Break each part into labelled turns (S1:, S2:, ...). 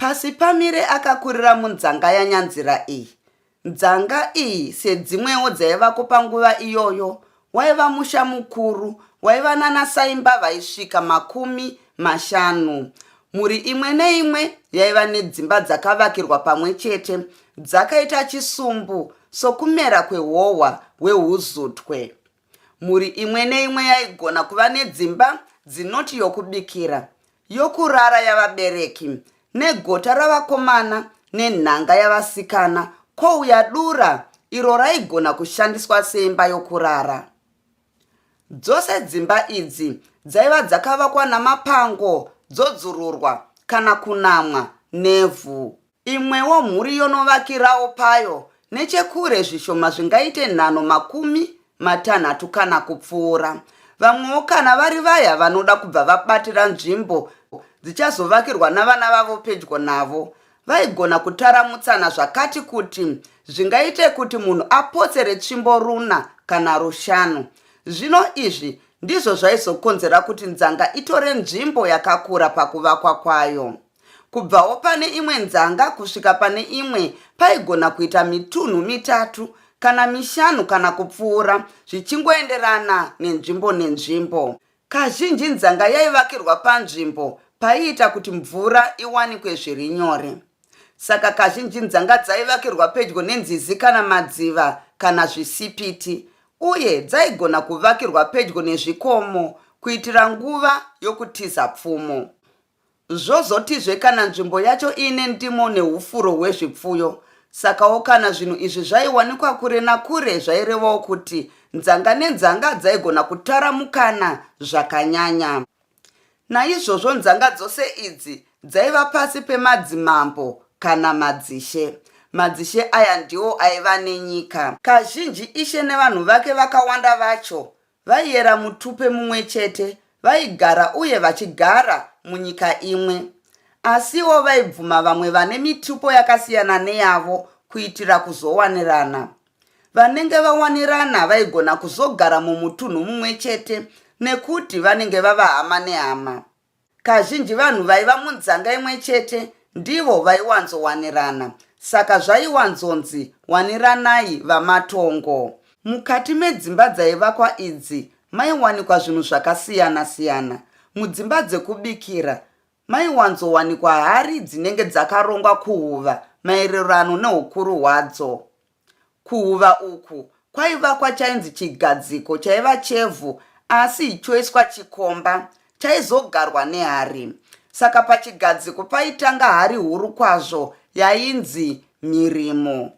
S1: Pasipamire akakurira munzanga yanyanzira iyi. Nzanga iyi sedzimwewo dzaivako panguva iyoyo waiva musha mukuru waiva nana saimba vaisvika makumi mashanu. Mhuri imwe neimwe yaiva nedzimba dzakavakirwa pamwe chete dzakaita chisumbu sokumera kwehohwa hweuzutwe. Mhuri imwe neimwe yaigona kuva nedzimba dzinoti yokubikira, yokurara yavabereki, negota ravakomana nenhanga yavasikana, kwouya dura iro raigona kushandiswa seimba yokurara. Dzose dzimba idzi dzaiva dzakavakwa namapango dzodzururwa kana kunamwa nevhu. Imwewo mhuri yonovakirawo payo nechekure zvishoma zvingaite nhano makumi matanhatu kana kupfuura. Vamwewo kana vari vaya vanoda kubva vabatira nzvimbo dzichazovakirwa navana vavo pedyo navo, vaigona kutaramutsana zvakati kuti zvingaite kuti munhu apotsere tsvimbo runa kana rushanu. Zvino izvi ndizvo zvaizokonzera kuti nzanga itore nzvimbo yakakura pakuvakwa kwayo. Kubvawo pane imwe nzanga kusvika pane imwe paigona kuita mitunhu mitatu kana mishanu kana kupfuura zvichingoenderana nenzvimbo nenzvimbo. Kazhinji nzanga yaivakirwa panzvimbo paiita kuti mvura iwanikwe zviri nyore. Saka kazhinji nzanga dzaivakirwa pedyo nenzizi kana madziva kana zvisipiti uye dzaigona kuvakirwa pedyo nezvikomo kuitira nguva yokutiza pfumo. Zvozotizve kana nzvimbo yacho iine ndimo neufuro hwezvipfuyo. Sakawo kana zvinhu izvi zvaiwanikwa kure nakure zvairevawo kuti nzanga nenzanga dzaigona kutaramukana zvakanyanya. Naizvozvo nzanga dzose idzi dzaiva pasi pemadzimambo kana madzishe. Madzishe aya ndiwo aiva nenyika. Kazhinji ishe nevanhu vake vakawanda vacho Vaiyera mutupe mumwe chete, vaigara uye vachigara munyika imwe. Asiwo vaibvuma vamwe vane mitupo yakasiyana neyavo kuitira kuzowanirana. Vanenge vawanirana vaigona kuzogara mumutunhu mumwe chete nekuti vanenge vava hama nehama. Kazhinji vanhu vaiva munzanga imwe chete ndivo vaiwanzowanirana saka zvaiwanzonzi waniranai vamatongo. Mukati medzimba dzaivakwa idzi maiwanikwa zvinhu zvakasiyana siyana. Mudzimba dzekubikira maiwanzowanikwa hari dzinenge dzakarongwa kuhuva maererano neukuru hwadzo. Kuhuva uku kwaivakwa chainzi chigadziko chaiva chevhu asi choiswa chikomba chaizogarwa nehari. Saka pachigadziko paitanga hari huru kwazvo yainzi mhirimo.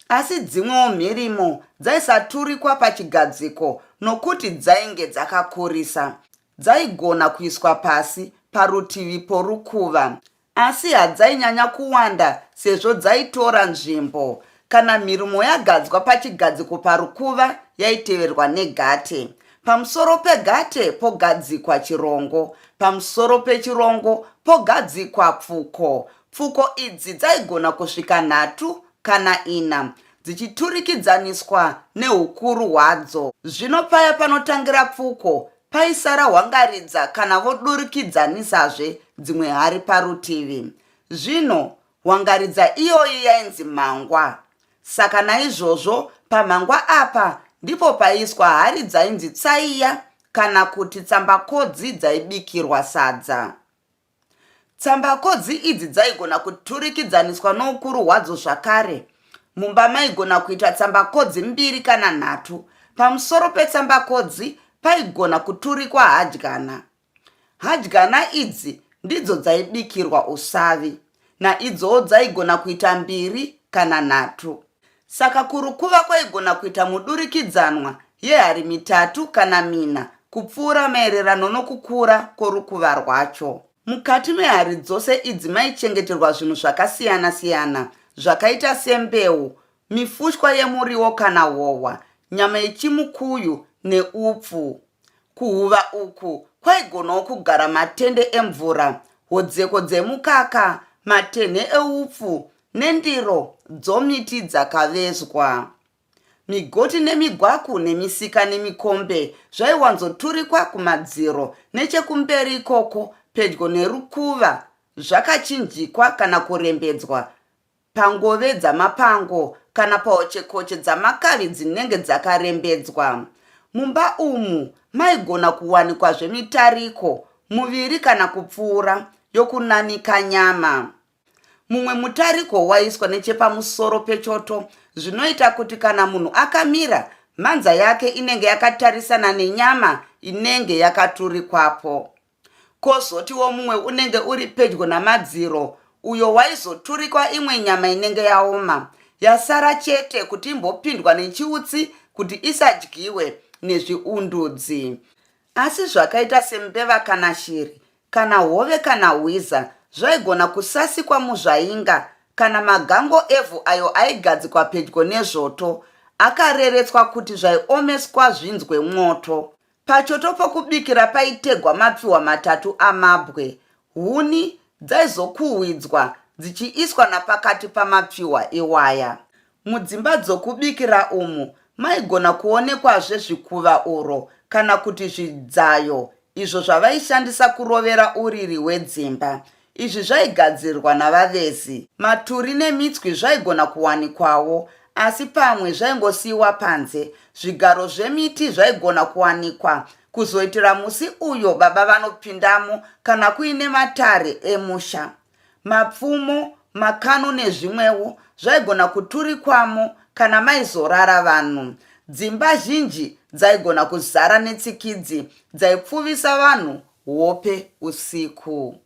S1: Asi dzimwewo mhirimo dzaisaturikwa pachigadziko nokuti dzainge dzakakurisa. Dzaigona kuiswa pasi parutivi porukuva. Asi hadzainyanya kuwanda sezvo dzaitora nzvimbo. Kana mhirumo yagadzwa pachigadziko parukuva yaiteverwa negate. Pamusoro pegate pogadzikwa chirongo. Pamusoro pechirongo pogadzikwa pfuko. Pfuko idzi dzaigona kusvika nhatu kana ina dzichiturikidzaniswa neukuru hwadzo. Zvino paya panotangira pfuko Paisara Hwangaridza kana vodurikidzanizazve dzimwe hari parutivi. Zvino Hwangaridza iyoyi yainzi Mhangwa. Saka naizvozvo paMhangwa apa ndipo paiiswa hari dzainzi Tsaiya kana kuti Tsambakodzi dzaibikirwa sadza. Tsambakodzi idzi dzaigona kuturikidzaniswa noukuru hwadzo zvakare. Mumba maigona kuita tsambakodzi mbiri kana nhatu. Pamusoro petsambakodzi paigona kuturikwa hadyana. Hadyana idzi ndidzo dzaibikirwa usavi, naidzowo dzaigona kuita mbiri kana nhatu. Saka kurukuva kwaigona kuita mudurikidzanwa yehari mitatu kana mina kupfuura maererano nokukura kworukuva rwacho. Mukati mehari dzose idzi maichengeterwa zvinhu zvakasiyana-siyana zvakaita sembeu, mifushwa yemuriwo kana hohwa, nyama yechimukuyu neupfu. Kuhuva uku kwaigonawo kugara matende emvura, hodzeko dzemukaka, matenhe eupfu, Nendiro dzomiti dzakavezwa. Migoti nemigwaku nemisika nemikombe zvaiwanzoturikwa kumadziro nechekumberi ikoko pedyo nerukuva zvakachinjikwa kana kurembedzwa pangove dzamapango kana pahochekoche dzamakavi dzinenge dzakarembedzwa. Mumba umu maigona kuwanikwazve mitariko muviri kana kupfuura yokunanika nyama. Mumwe mutariko waiswa nechepamusoro pechoto zvinoita kuti kana munhu akamira, mhanza yake inenge yakatarisana nenyama inenge yakaturikwapo. Kozotiwo mumwe unenge uri pedyo namadziro uyo waizoturikwa imwe nyama inenge yaoma yasara chete kuti imbopindwa nechiutsi kuti isadyiwe nezviundudzi. Asi zvakaita sembeva kana shiri kana hove kana hwiza zvaigona kusasikwa muzvainga kana magango evhu ayo aigadzikwa pedyo nezvoto akareretswa kuti zvaiomeswa zvinzwe mwoto. Pachoto pokubikira paitegwa mapfiwa matatu amabwe. Huni dzaizokuhwidzwa dzichiiswa napakati pamapfiwa iwaya. Mudzimba dzokubikira umu maigona kuonekwazve zvikuva oro kana kuti zvibzayo izvo zvavaishandisa kurovera uriri hwedzimba. Izvi zvaigadzirwa navavezi. Maturi nemitswi zvaigona kuwanikwawo, asi pamwe zvaingosiyiwa panze. Zvigaro zvemiti zvaigona kuwanikwa, kuzoitira musi uyo baba vanopindamo kana kuine matare emusha. Mapfumo, makano nezvimwewo zvaigona kuturikwamo kana maizorara vanhu. Dzimba zhinji dzaigona kuzara netsikidzi dzaipfuvisa vanhu hope usiku.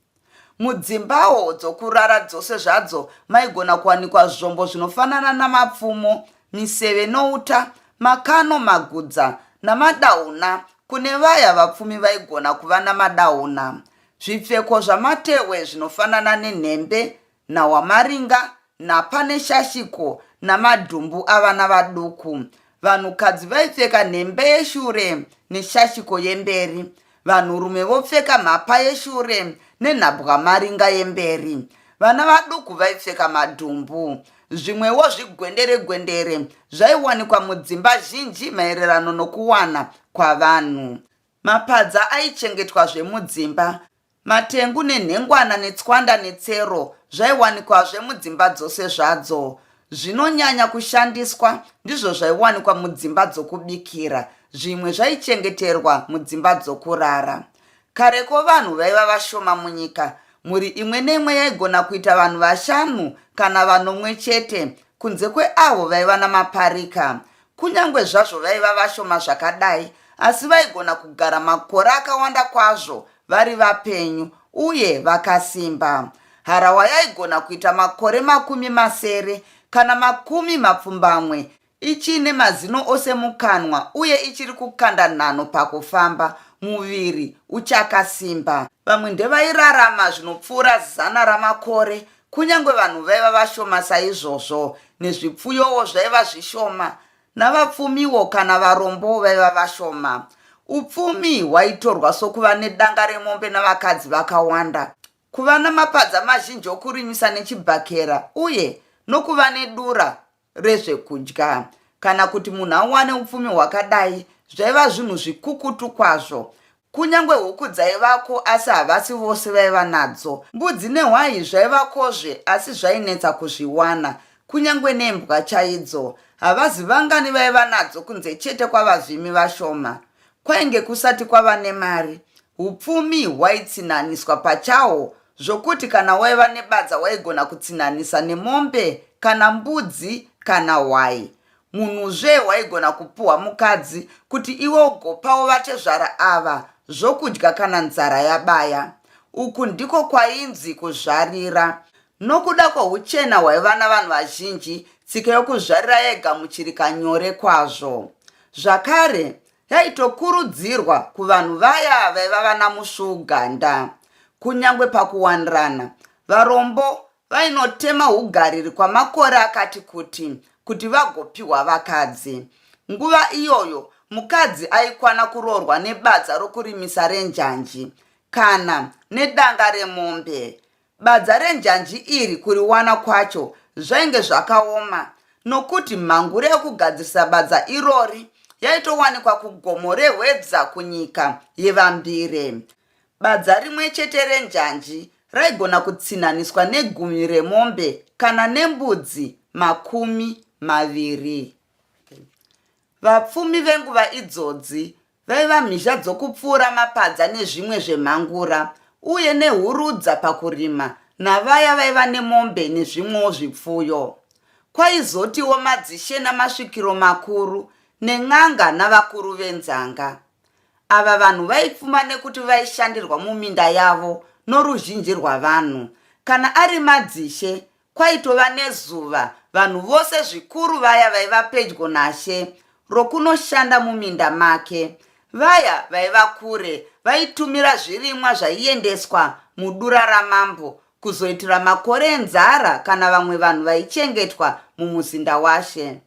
S1: Mudzimbawo dzokurara dzose zvadzo maigona kuwanikwa zvombo zvinofanana namapfumo, miseve nouta, makano, magudza namadahuna kune vaya vapfumi vaigona kuva namadahuna. Zvipfeko zvamatehwe zvinofanana nenhembe, nhawamaringa, nhapa neshashiko namadhumbu avana vaduku. Vanhukadzi vaipfeka nhembe yeshure neshashiko yemberi. Vanhurume vopfeka mhapa yeshure nenhabwamaringa yemberi. Vana vaduku vaipfeka madhumbu. Zvimwewo zvigwendere gwendere zvaiwanikwa mudzimba zhinji maererano nokuwana kwavanhu. Mapadza aichengetwazve mudzimba. Matengu nenhengwana netswanda netsero zvaiwanikwazve mudzimba dzose zvadzo. Zvinonyanya kushandiswa ndizvo zvaiwanikwa mudzimba dzokubikira, zvimwe zvaichengeterwa mudzimba dzokurara. Kareko vanhu vaiva vashoma munyika, mhuri imwe neimwe yaigona kuita vanhu vashanu kana vanomwe chete, kunze kweavo vaiva namaparika. Kunyange zvazvo vaiva vashoma zvakadai, asi vaigona kugara makore akawanda kwazvo vari vapenyu uye vakasimba. Harahwa yaigona kuita makore makumi masere kana makumi mapfumbamwe ichiine mazino ose mukanwa uye ichiri kukanda nhanho pakufamba, muviri uchakasimba. Vamwe ndevairarama zvinopfuura zana ramakore Kunyange vanhu vaiva vashoma saizvozvo, nezvipfuyowo zvaiva zvishoma, navapfumiwo kana varombo vaiva vashoma. Upfumi hwaitorwa sokuva nedanga remombe navakadzi vakawanda, kuva namapadza mazhinji okurimisa nechibhakera, uye nokuva nedura rezvekudya kana kuti munhu awane upfumi hwakadai zvaiva zvinhu zvikukutu kwazvo kunyange huku dzaivako asi havasi vose vaiva nadzo mbudzi nehwayi zvaivakozve asi zvainetsa kuzviwana kunyange nembwa chaidzo havazi vangani vaiva nadzo kunze chete kwavazvimi vashoma kwainge kusati kwava nemari upfumi hwaitsinaniswa pachahwo zvokuti kana waiva nebadza waigona kutsinhanisa nemombe kana mbudzi kana hwai munhuzve waigona kupuhwa mukadzi kuti iwe ugopawo vatezvara ava zvokudya kana nzara yabaya uku ndiko kwainzi kuzvarira nokuda kwouchena hwaiva navanhu vazhinji tsika yokuzvarira yaigamuchirika nyore kwazvo zvakare Yaitokurudzirwa kuvanhu vaya vaiva vana musvuuganda. Kunyange pakuwanirana, varombo vainotema ugariri kwamakore akati kuti kuti vagopiwa vakadzi. Nguva iyoyo mukadzi aikwana kuroorwa nebadza rokurimisa renjanji kana nedanga remombe. Badza renjanji iri kuriwana kwacho zvainge zvakaoma nokuti mhangure yokugadzirisa badza irori yaitowanikwa kugomo rehwedza kunyika yevambire. Badza rimwe chete renjanji raigona kutsinhaniswa negumi remombe kana nembudzi makumi maviri. Vapfumi venguva idzodzi Vaiva mhizha dzokupfuura mapadza nezvimwe zvemhangura, uye nehurudza pakurima, navaya vaiva nemombe nezvimwewo zvipfuyo. Kwaizotiwo madzishe namasvikiro makuru, nen'anga navakuru venzanga. Ava vanhu vaipfuma nekuti vaishandirwa muminda yavo noruzhinji rwavanhu. Kana ari madzishe, Kwaitova nezuva, vanhu vose zvikuru vaya vaiva pedyo naShe, rokunoshanda muminda make. Vaya vaiva kure vaitumira zvirimwa zvaiendeswa mudura ramambo kuzoitira makore enzara kana vamwe vanhu vaichengetwa mumuzinda waShe.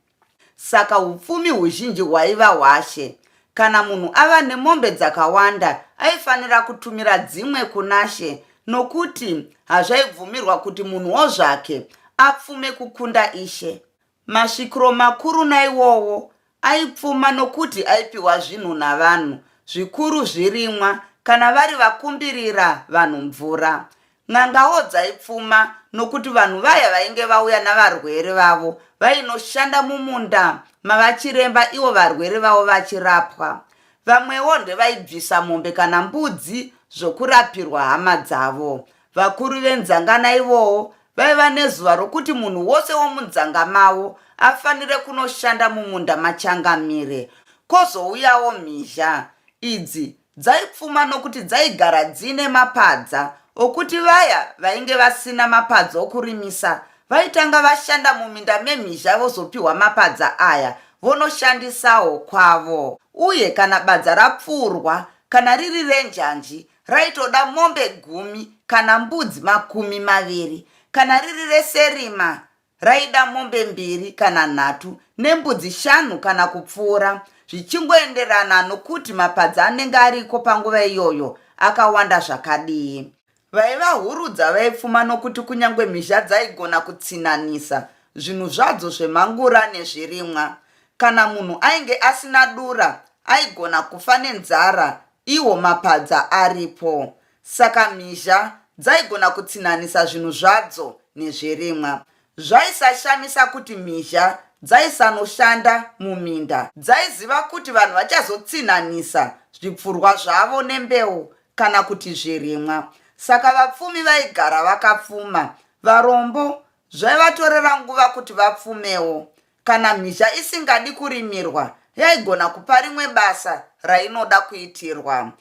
S1: Saka upfumi huzhinji hwaiva hwashe. Kana munhu ava nemombe dzakawanda aifanira kutumira dzimwe kunashe nokuti hazvaibvumirwa kuti munhu wo zvake apfume kukunda ishe. Masvikiro makuru naiwowo aipfuma nokuti aipiwa zvinhu navanhu, zvikuru zvirimwa kana vari vakumbirira vanhu mvura. N'angawo dzaipfuma nokuti vanhu vaya vainge vauya navarwere vavo vainoshanda mumunda mavachiremba ivo varwere vavo vachirapwa. Vamwewo ndevaibvisa mombe kana mbudzi zvokurapirwa hama dzavo. Vakuru venzangana ivowo vaiva nezuva rokuti munhu wose womunzanga mavo afanire kunoshanda mumunda machangamire. Kozouyawo mhizha idzi Dzaipfuma nokuti dzaigara dziine mapadza okuti vaya vainge vasina mapadza okurimisa vaitanga vashanda muminda memhizha vozopiwa mapadza aya vonoshandisawo kwavo. Uye kana badza rapfuurwa kana riri renjanji raitoda mombe gumi kana mbudzi makumi maviri, kana riri reserima raida mombe mbiri kana nhatu nembudzi shanu kana kupfuura zvichingoenderana nokuti mapadza anenge ariko panguva iyoyo akawanda zvakadii vaivahurudza vaipfuma nokuti kunyange mhizha dzaigona kutsinhanisa zvinhu zvadzo zvemangura nezvirimwa kana munhu ainge asina dura aigona kufa nenzara iwo mapadza aripo Saka mhizha dzaigona kutsinhanisa zvinhu zvadzo nezvirimwa. Zvaisashamisa kuti mhizha dzaisanoshanda muminda. Dzaiziva kuti vanhu vachazotsinhanisa zvipfurwa zvavo nembeu kana kuti zvirimwa. Saka vapfumi vaigara vakapfuma. Varombo zvaivatorera nguva kuti vapfumewo. Kana mhizha isingadi kurimirwa, yaigona kupa rimwe basa rainoda kuitirwa.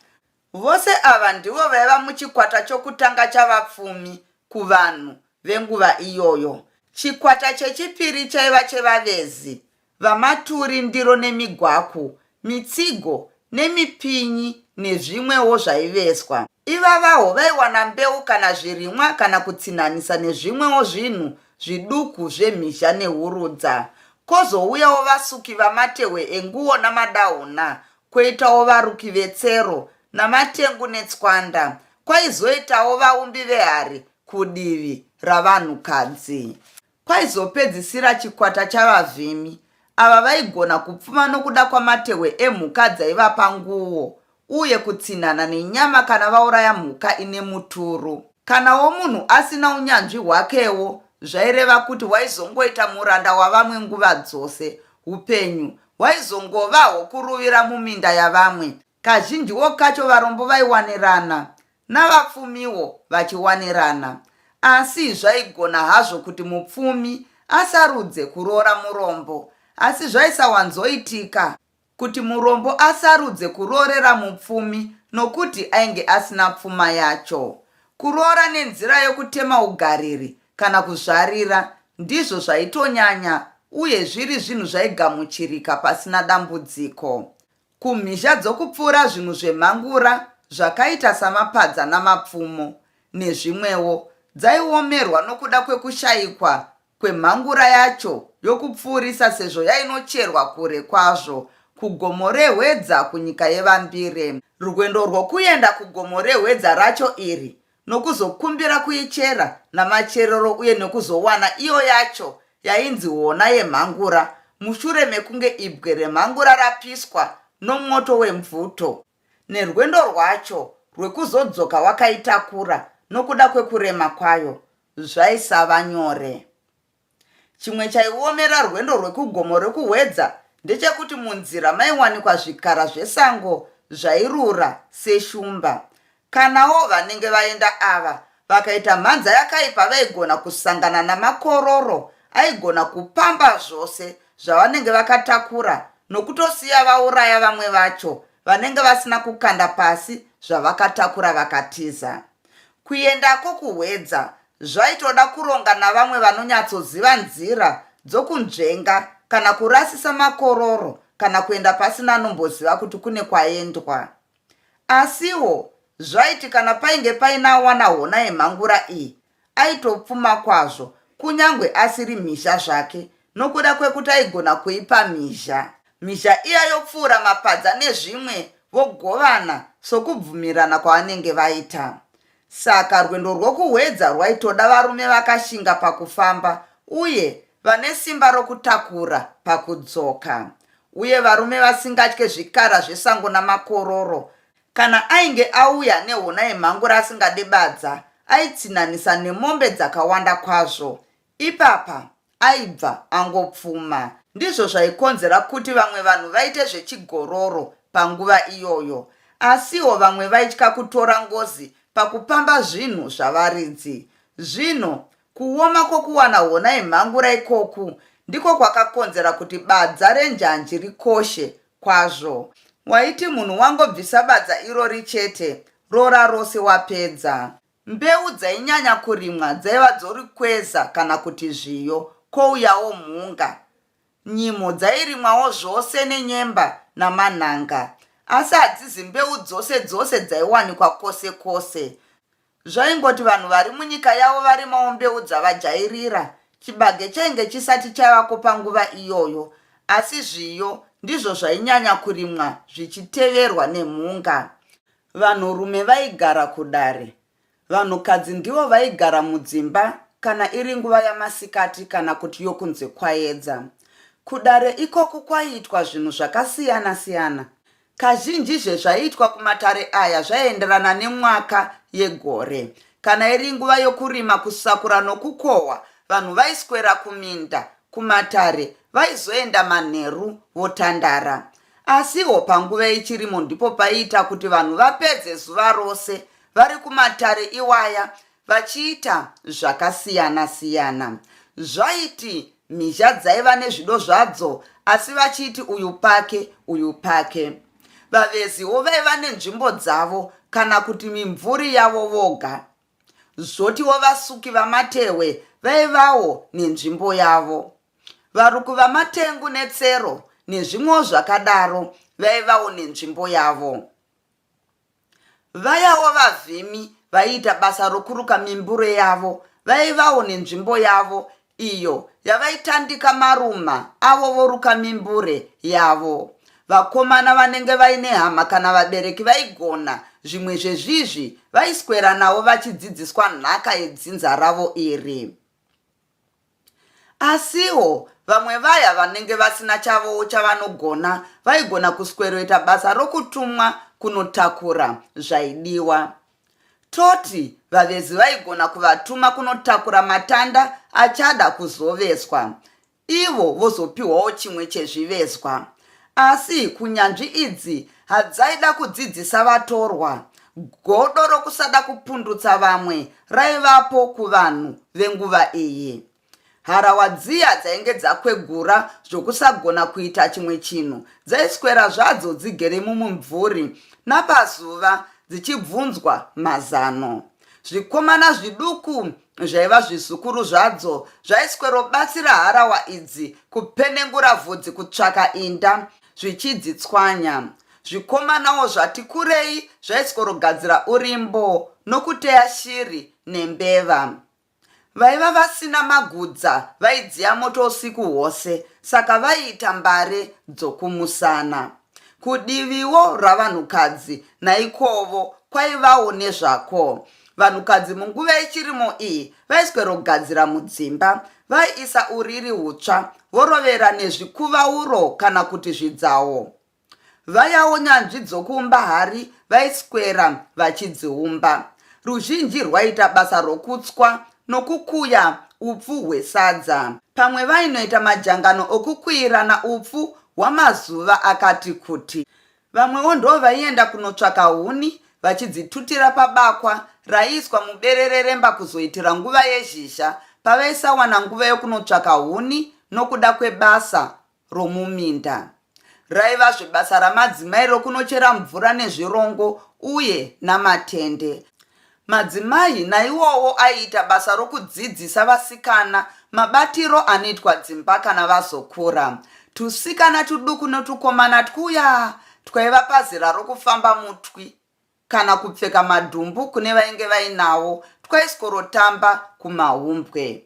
S1: Vose ava ndivo vaiva muchikwata chokutanga chavapfumi kuvanhu venguva iyoyo. Chikwata chechipiri chaiva chevavezi, vamaturi ndiro nemigwaku, mitsigo, nemipinyi nezvimwewo zvaiveswa. Ivavawo vaiwana mbeu kana zvirimwa kana kutsinhanisa nezvimwewo zvinhu zviduku zvemhizha nehurudza. Kozouyawo vasuki vamatehwe enguwo namadahuna Kwoitawo varuki vetsero namatengu netswanda, kwaizoitawo vaumbi vehari kudivi ravanhukadzi. Kwaizopedzisira chikwata chavavhimi, ava vaigona kupfuma nokuda kwamatehwe emhuka dzaivapa nguo uye kutsinhana nenyama kana vauraya mhuka ine muturu. Kanawo munhu asina unyanzvi hwakewo zvaireva kuti waizongoita muranda wavamwe nguva dzose, upenyu Waizongovawo kuruvira muminda yavamwe. Kazhinjiwo kacho varombo vaiwanirana, navapfumiwo vachiwanirana. Asi zvaigona hazvo kuti mupfumi asarudze kuroora murombo, asi zvaisawanzoitika kuti murombo asarudze kuroorera mupfumi nokuti ainge asina pfuma yacho. Kuroora nenzira yokutema ugariri kana kuzvarira ndizvo zvaitonyanya uye zviri zvinhu zvaigamuchirika pasina dambudziko. Kumhizha dzokupfuura zvinhu zvemhangura zvakaita samapadza namapfumo nezvimwewo dzaiomerwa nokuda kwekushayikwa kwemhangura yacho yokupfuurisa sezvo yainocherwa kure kwazvo kuGomo reHwedza kunyika yeVambire. Rwendo rwokuenda kuGomo reHwedza racho iri nokuzokumbira kuichera namacherero uye nekuzowana iyo yacho yainzi hona yemhangura mushure mekunge ibwe remhangura rapiswa nomwoto wemvuto nerwendo rwacho rwekuzodzoka wakaitakura nokuda kwekurema kwayo zvaisava nyore. Chimwe chaiomera rwendo rwekugomo rekuhwedza ndechekuti munzira maiwanikwa zvikara zvesango zvairura seshumba. Kanawo vanenge vaenda ava vakaita mhanza yakaipa vaigona kusangana namakororo aigona kupamba zvose zvavanenge vakatakura nokutosiya vauraya vamwe vacho vanenge vasina kukanda pasi zvavakatakura vakatiza. Kuendako kuHwedza zvaitoda kuronga navamwe vanonyatsoziva nzira dzokunzvenga kana kurasisa makororo kana kuenda pasina anomboziva kuti kune kwaendwa. Asiwo zvaiti kana painge paina awana hona yemhangura iyi, aitopfuma kwazvo kunyange asiri mhizha zvake Nokuda kwekuti aigona kuipa mhizha, mhizha iya yopfuura mapadza nezvimwe vogovana sokubvumirana kwavanenge vaita. Saka rwendo rwokuhwedza rwaitoda varume vakashinga pakufamba uye vane simba rokutakura pakudzoka, uye varume vasingatye zvikara zvesango namakororo. Kana ainge auya nehona yemhangura asingade badza, aitsinhanisa nemombe dzakawanda kwazvo. Ipapa aibva angopfuma. Ndizvo zvaikonzera kuti vamwe vanhu vaite zvechigororo panguva iyoyo. Asiwo vamwe vaitya kutora ngozi pakupamba zvinhu zvavaridzi. Zvino, kuoma kwokuwana hona yemhangura ikoku ndiko kwakakonzera kuti badza renjanji rikoshe kwazvo. Waiti munhu wangobvisa badza irori chete, roora rose wapedza. Mbeu dzainyanya kurimwa dzaiva dzorikweza kana kuti zviyo, kouyawo mhunga. Nyimo dzairimwawo zvose nenyemba namanhanga. Asi hadzizi mbeu dzose dzose dzaiwanikwa kwose kwose. Zvaingoti vanhu vari munyika yavo varimawo mbeu dzavajairira. Chibage chainge chisati chaivako panguva iyoyo, asi zviyo ndizvo zvainyanya kurimwa zvichiteverwa nemhunga. Vanhurume vaigara kudare. Vanhukadzi ndivo vaigara mudzimba kana iri nguva yamasikati kana kuti yokunze kwayedza. Kudare ikoku kwaiitwa zvinhu zvakasiyana siyana. Kazhinji zvezvaiitwa kumatare aya zvaienderana nemwaka yegore. Kana iri nguva yokurima, kusakura nokukohwa, vanhu vaiswera kuminda, kumatare, vaizoenda manheru votandara. Asiwo panguva yechirimo ndipo paiita kuti vanhu vapedze zuva rose vari kumatare iwaya vachiita zvakasiyana siyana. Zvaiti mhizha dzaiva nezvido zvadzo asi vachiiti uyu pake uyu pake. Vaveziwo vaiva nenzvimbo dzavo kana kuti mimvuri yavo voga. Zvotiwo vasuki vamatehwe vaivawo nenzvimbo yavo. Varuku vaMatengu neTsero nezvimwewo zvakadaro vaivawo nenzvimbo yavo. Vayawo vavhimi vaiita basa rokuruka mimbure yavo vaivawo nenzvimbo yavo iyo yavaitandika maruma avo voruka mimbure yavo. Vakomana vanenge vaine hama kana vabereki vaigona zvimwe zvezvizvi vaisweranawo vachidzidziswa nhaka yedzinza ravo iri. Asiwo, vamwe vaya vanenge vasina chavowo chavanogona vaigona kusweroita basa rokutumwa kunotakura zvaidiwa. Toti vavezi vaigona kuvatuma kunotakura matanda achada kuzoveswa, ivo vozopiwawo chimwe chezvivezwa. Asi kunyanzvi idzi hadzaida kudzidzisa vatorwa. Godo rokusada kupundutsa vamwe raivapo kuvanhu venguva iyi. Harawa dziya dzainge dzakwegura zvokusagona kuita chimwe chinhu dzaiswera zvadzo dzigere mumumvuri napazuva dzichibvunzwa mazano. Zvikomana zviduku zvaiva zvizukuru zvadzo zvaiswerobatsira harawa idzi kupenengura vhudzi kutsvaka inda zvichidzitswanya zvikomanawo zvati kurei zvaisworogadzira urimbo nokuteya shiri nembeva vaiva vasina magudza vaidziya moto usiku hwose saka vaiita mbare dzokumusana kudiviwo ravanhukadzi naikovo kwaivawo nezvako Vanhukadzi munguva yechirimo iyi vaiswerogadzira mudzimba, vaiisa uriri hutsva vorovera nezvikuvauro kana kuti zvidzawo. Vayawo nyanzvi dzokuumba hari vaiswera vachidziumba. Ruzhinji rwaiita basa rokutswa nokukuya upfu hwesadza. Pamwe vainoita majangano okukuirana upfu hwamazuva akati kuti. Vamwewo ndovaienda kunotsvaka huni vachidzitutira pabakwa raiiswa muberere remba kuzoitira nguva yezhizha pavaisawana nguva yokunotsvaka huni nokuda kwebasa romuminda. Raivazve basa ramadzimai rokunochera mvura nezvirongo uye namatende. Madzimai naiwowo aiita basa rokudzidzisa vasikana mabatiro anoitwa dzimba kana vazokura. Tusikana tuduku notukomana twuya twaiva pazera rokufamba mutwi kana kupfeka madhumbu kune vainge vainawo twaiskorotamba kumahumbwe.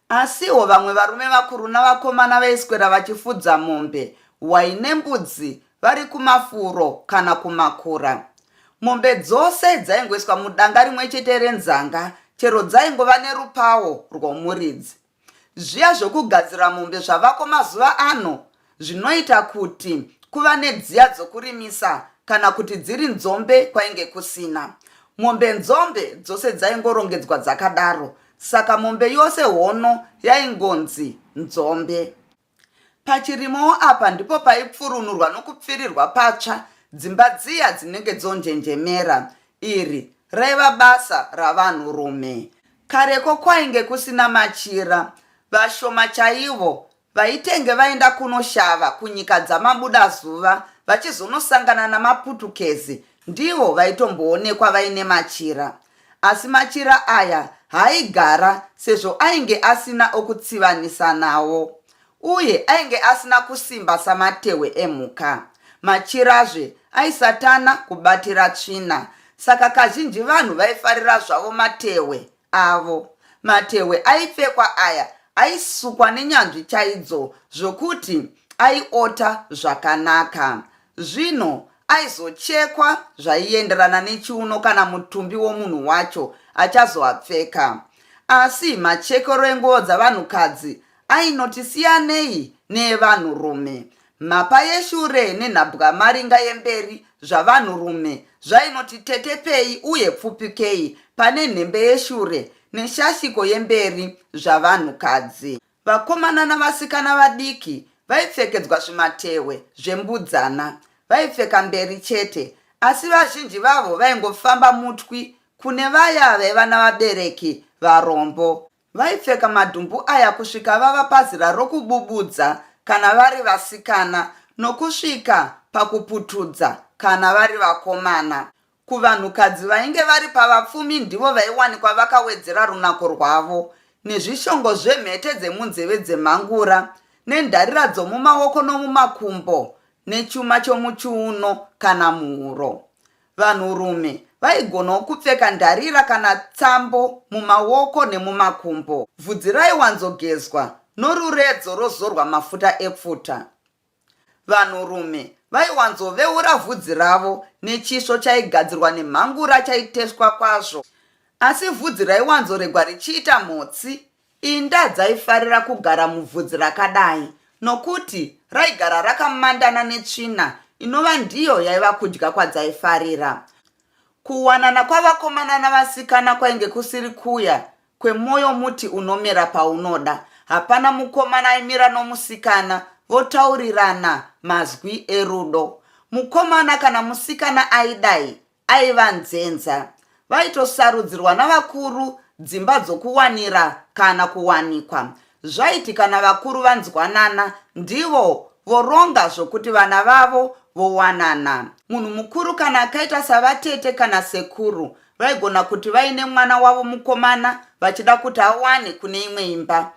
S1: Asiwo vamwe varume vakuru navakomana vaiswera vachifudza mombe, hwai nembudzi vari kumafuro kana kumakura. Mombe dzose dzaingoiswa mudanga rimwe chete renzanga chero dzaingova nerupawo rwomuridzi. Zviya zvokugadzira mombe zvavako mazuva ano zvinoita kuti kuva nedziya dzokurimisa kana kuti dziri nzombe kwainge kusina mombe nzombe dzose dzaingorongedzwa dzakadaro saka mombe yose hono yaingonzi nzombe pachirimowo apa ndipo paipfurunurwa nokupfirirwa patsva dzimba dziya dzinenge dzonjenjemera iri raiva basa ravanhurume kareko kwainge kusina machira vashoma chaivo Vaitenge vaenda kunoshava kunyika dzamabuda zuva vachizonosangana namaputukezi ndivo vaitomboonekwa vaine machira. Asi machira aya haaigara sezvo ainge asina okutsivanisa nawo. Uye ainge asina kusimba samatehwe emhuka. Machirazve aisatana kubatira tsvina saka kazhinji vanhu vaifarira zvavo matehwe avo. Matehwe aipfekwa aya aisukwa nenyanzvi chaidzo zvokuti aiota zvakanaka. Zvino aizochekwa zvaienderana nechiuno kana mutumbi womunhu wacho achazoapfeka. Asi machekero enguo dzavanhukadzi ainoti siyanei neevanhurume. Mhapa yeshure nenhabwamaringa yemberi zvavanhurume zvainoti tetepei uye pfupikei pane nhembe yeshure neshashiko yemberi zvavanhukadzi. Vakomana navasikana vadiki vaipfekedzwa zvimatehwe zvembudzana. Vaipfeka mberi chete, asi vazhinji vavo vaingofamba mutwi kune vaya vaiva navabereki varombo. Vaipfeka madhumbu aya kusvika vava pazera rokububudza kana vari vasikana nokusvika pakuputudza kana vari vakomana. Kuvanhukadzi vainge vari pavapfumi ndivo vaiwanikwa vakawedzera runako rwavo nezvishongo zvemhete dzemunzeve dzemhangura nendarira dzomumaoko nomumakumbo nechuma chomuchiuno kana muhuro. Vanhurume vaigonawo kupfeka ndarira kana tsambo mumaoko nemumakumbo. Vhudzi raiwanzogezwa noruredzo rozorwa mafuta epfuta. Vanhurume vaiwanzoveura vhudzi ravo nechisvo chaigadzirwa nemhangura chaiteswa kwazvo. Asi vhudzi raiwanzoregwa richiita mhotsi Inda dzaifarira kugara mubvudzi rakadai nokuti raigara rakamandana netsvina inova ndiyo yaiva kudya kwadzaifarira. Kuwanana kwavakomana navasikana kwainge kusiri kuya kwemwoyo muti unomera paunoda. Hapana mukomana aimira nomusikana votaurirana mazwi erudo. Mukomana kana musikana aidai aiva nzenza. Vaitosarudzirwa navakuru dzimba dzokuwanira kana kuwanikwa. Zvaiti kana vakuru vanzwanana, ndivo voronga zvokuti vana vavo vowanana. Munhu mukuru kana akaita savatete kana sekuru vaigona kuti vaine mwana wavo mukomana vachida kuti awane kune imwe imba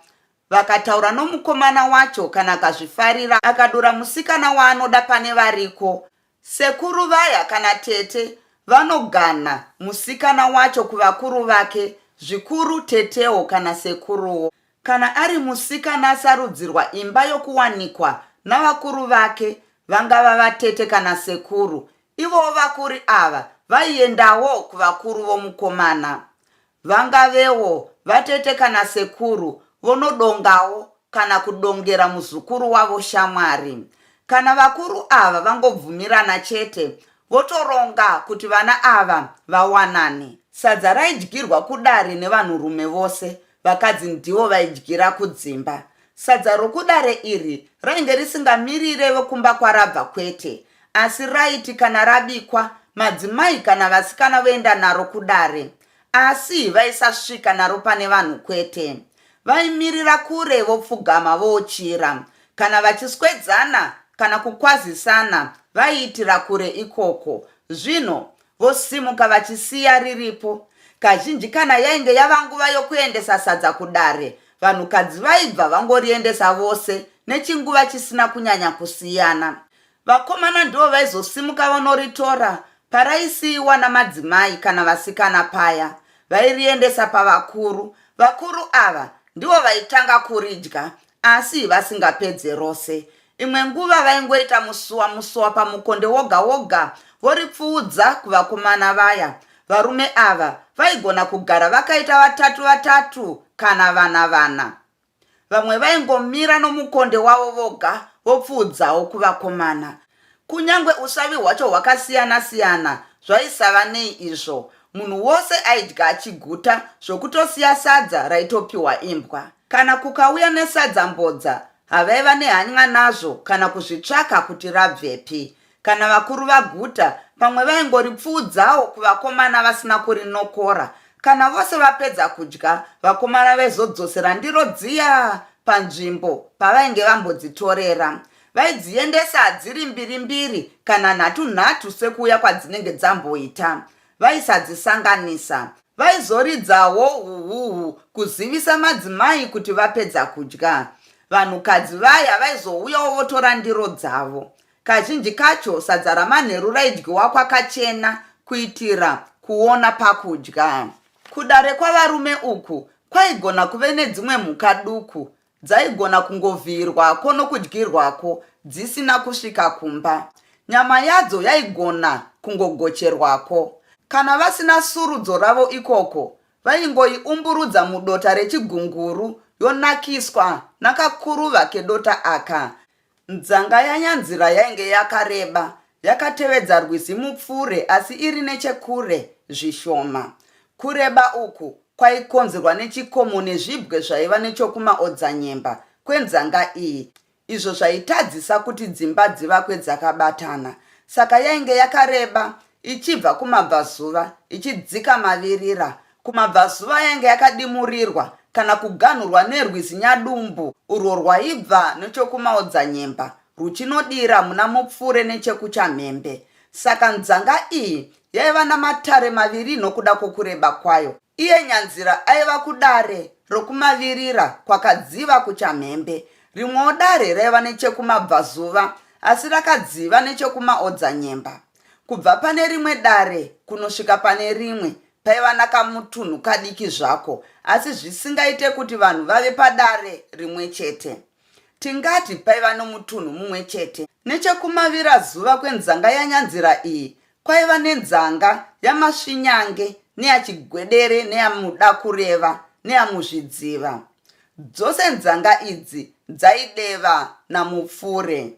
S1: vakataura nomukomana wacho kana akazvifarira akadura musikana waanoda pane variko Sekuru vaya kana tete vanoganha musikana wacho kuvakuru vake zvikuru tetewo kana sekuruwo. Kana ari musikana asarudzirwa imba yokuwanikwa navakuru vake vangava vatete kana sekuru ivowo vakuri ava vaiendawo kuvakuru vomukomana. Vangavewo vatete kana sekuru vonodongawo kana kudongera muzukuru wavo shamwari. Kana vakuru ava vangobvumirana chete votoronga kuti vana ava vawanane. Sadza raidyirwa kudare nevanhurume vose, vakadzi ndivo vaidyira kudzimba. Sadza rokudare iri rainge risingamirire vekumba kwarabva kwete, Asi raiti kana rabikwa madzimai kana vasikana voenda naro kudare asi vaisasvika naro pane vanhu kwete. Vaimirira kure vopfugama voochira. Kana vachiswedzana kana kukwazisana vaiitira kure ikoko. Zvino vosimuka vachisiya riripo. Kazhinji kana yainge yava nguva yokuendesa sadza kudare, vanhukadzi vaibva vangoriendesa vose nechinguva chisina kunyanya kusiyana. Vakomana ndivo vaizosimuka vonoritora paraisiiwa namadzimai kana vasikana paya vairiendesa pavakuru. Vakuru ava ndivo vaitanga kuridya asi vasingapedze rose. Imwe nguva vaingoita musuwa musuwa pamukonde woga woga voripfuudza kuvakomana vaya. Varume ava vaigona kugara vakaita vatatu vatatu kana vana vana. Vamwe vaingomira nomukonde wavo voga vopfuudzawo kuvakomana. Kunyange usavi hwacho hwakasiyana-siyana, zvaisava nei izvo. Munhu wose aidya achiguta zvokutosiya sadza raitopiwa imbwa. Kana kukauya nesadza mbodza, havaiva nehany'a nazvo kana kuzvitsvaka kuti rabvepi. Kana vakuru vaguta, pamwe vaingoripfuudzawo kuvakomana vasina kurinokora. Kana vose vapedza kudya, vakomana vaizodzosera ndiro dziya panzvimbo pavainge vambodzitorera. Vaidziendesa dziri mbiri mbiri kana nhatu nhatu sekuuya kwadzinenge dzamboita. Vaisadzisanganisa. Vaizoridzawo huhuhu kuzivisa madzimai kuti vapedza kudya. Vanhukadzi vaya vaizouyawo votora ndiro dzavo. Kazhinji kacho sadza ramanheru raidyiwa kwakachena kuitira kuona pakudya. Kudare kwavarume uku kwaigona kuve nedzimwe mhuka duku dzaigona kungovhiyirwako nokudyirwako dzisina kusvika kumba. Nyama yadzo yaigona kungogocherwako. Kana vasina surudzo ravo ikoko, vaingoiumburudza mudota rechigunguru yonakiswa nakakuruva kedota aka. Nzanga yaNyanzira yainge yakareba, yakatevedza rwizi Mupfure asi iri nechekure zvishoma. Kureba uku kwaikonzerwa nechikomo nezvibwe zvaiva nechokumaodzanyemba kwenzanga iyi izvo zvaitadzisa kuti dzimba dzivakwe dzakabatana. Saka yainge yakareba ichibva kumabvazuva ichidzika mavirira Kumabvazuva yainge yakadimurirwa kana kuganhurwa nerwizi Nyadumbu urwo rwaibva nechokumaodzanyemba ruchinodira muna Mupfure nechekuchamhembe. Saka nzanga iyi yaiva namatare maviri nokuda kwokureba kwayo. Iye Nyanzira aiva kudare rokumavirira kwakadziva kuchamhembe. Rimwewo dare raiva nechekumabvazuva asi rakadziva nechekumaodzanyemba. Kubva pane rimwe dare kunosvika pane rimwe paiva nakamutunhu kadiki zvako asi zvisingaite kuti vanhu vave padare rimwe chete tingati paiva nomutunhu mumwe chete nechekumavira zuva kwenzanga yanyanzira iyi kwaiva nenzanga yamasvinyange neyachigwedere neyamuda kureva neyamuzvidziva dzose nzanga idzi dzaideva namupfure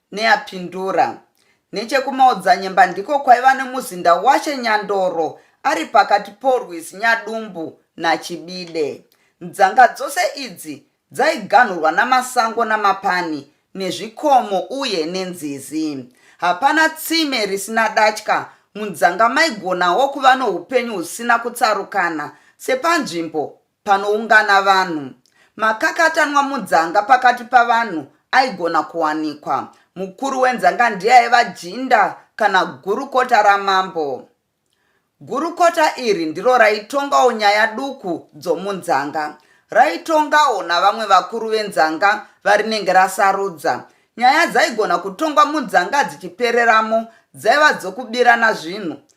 S1: Neapindura. Nechekumaodzanyemba ndiko kwaiva nemuzinda washe Nyandoro ari pakati porwizi Nyadumbu naChibide. Nzanga dzose idzi dzaiganhurwa namasango namapani nezvikomo uye nenzizi. Hapana tsime risina datya, munzanga maigonawo kuva noupenyu husina kutsarukana sepanzvimbo panoungana vanhu. Makakatanwa mudzanga pakati pavanhu aigona kuwanikwa. Mukuru wenzanga ndiye aiva jinda kana gurukota ramambo. Gurukota iri ndiro raitongawo nyaya duku dzomunzanga. Raitongawo navamwe vakuru venzanga varinenge rasarudza. Nyaya dzaigona kutongwa munzanga dzichipereramo dzaiva dzokubirana zvinhu,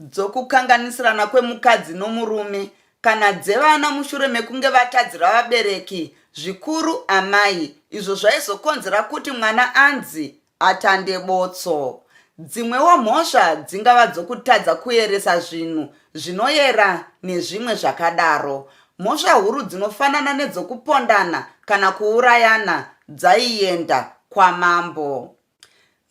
S1: dzokukanganisirana kwemukadzi nomurume kana dzevana mushure mekunge vatadzira vabereki zvikuru amai izvo zvaizokonzera kuti mwana anzi atande botso dzimwewo mhosva dzingava dzokutadza kuyeresa zvinhu zvinoyera nezvimwe zvakadaro mhosva huru dzinofanana nedzokupondana kana kuurayana dzaienda kwamambo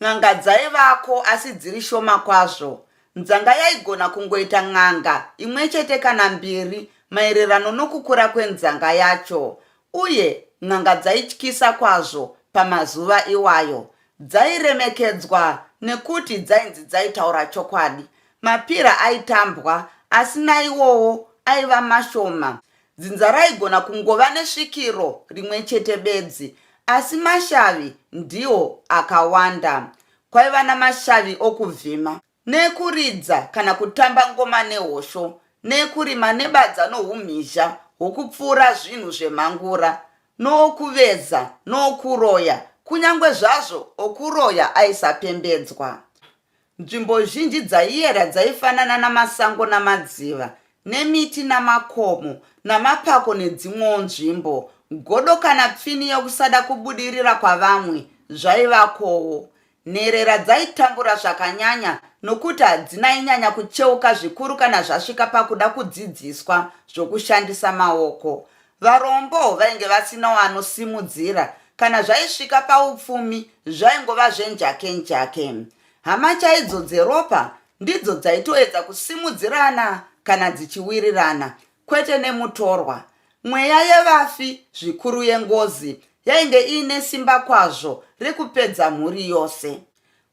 S1: N'anga dzaivako asi dziri shoma kwazvo. Nzanga yaigona kungoita n'anga imwe chete kana mbiri maererano nokukura kwenzanga yacho. Uye n'anga dzaityisa kwazvo pamazuva iwayo. Dzairemekedzwa nekuti dzainzi dzaitaura chokwadi. Mapira aitambwa asi naiwowo aiva mashoma. Dzinza raigona kungova nesvikiro rimwe chete bedzi, asi mashavi ndiwo akawanda. Kwaiva namashavi okuvhima, neekuridza kana kutamba ngoma nehosho, neekurima nebadza noumhizha hwokupfuura zvinhu zvemhangura, nookuveza, nookuroya, kunyange zvazvo okuroya aisapembedzwa. Nzvimbo zhinji dzaiyera dzaifanana namasango namadziva, nemiti namakomo, namapako nedzimwewo nzvimbo. Godo kana pfini yokusada kubudirira kwavamwe zvaivakowo. Nherera dzaitambura zvakanyanya nokuti hadzinainyanya kucheuka zvikuru kana zvasvika pakuda kudzidziswa zvokushandisa maoko. Varombo vainge vasina wanosimudzira kana zvaisvika paupfumi zvaingova zvenjake njake. Hama chaidzo dzeropa ndidzo dzaitoedza kusimudzirana kana dzichiwirirana kwete nemutorwa. Mweya yevafi, zvikuru yengozi, yainge iine simba kwazvo rekupedza mhuri yose.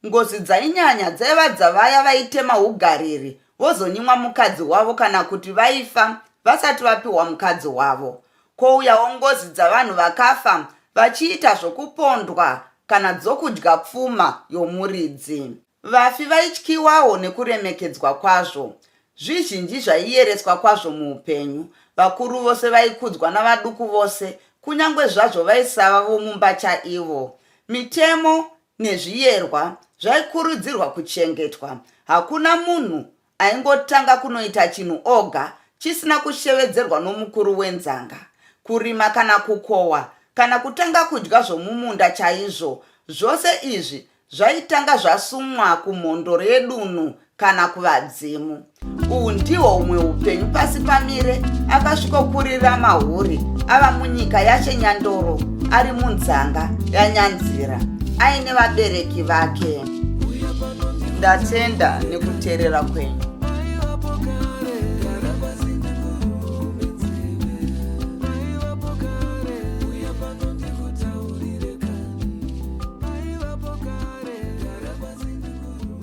S1: Ngozi dzainyanya dzaiva dzavaya vaitema hugariri vozonyimwa mukadzi wavo kana kuti vaifa vasati vapiwa mukadzi wavo. Kouyawo ngozi dzavanhu vakafa vachiita zvokupondwa kana dzokudya pfuma yomuridzi. Vafi vaityiwawo nekuremekedzwa kwazvo. Zvizhinji zvaiyereswa kwazvo muupenyu. Vakuru vose vaikudzwa navaduku vose, kunyange zvazvo vaisava vomumba chaivo. Mitemo nezviyerwa zvaikurudzirwa kuchengetwa. Hakuna munhu aingotanga kunoita chinhu oga chisina kushevedzerwa nomukuru wenzanga. Kurima kana kukohwa kana kutanga kudya zvomumunda chaizvo, zvose izvi zvaitanga zvasumwa kumhondoro yedunhu kana kuvadzimu uhu ndihwo humwe upenyu pasi pamire akasvikokurira mahuri ava munyika yache nyandoro ari munzanga yanyanzira aine vabereki vake ndatenda nekuteerera kwenyu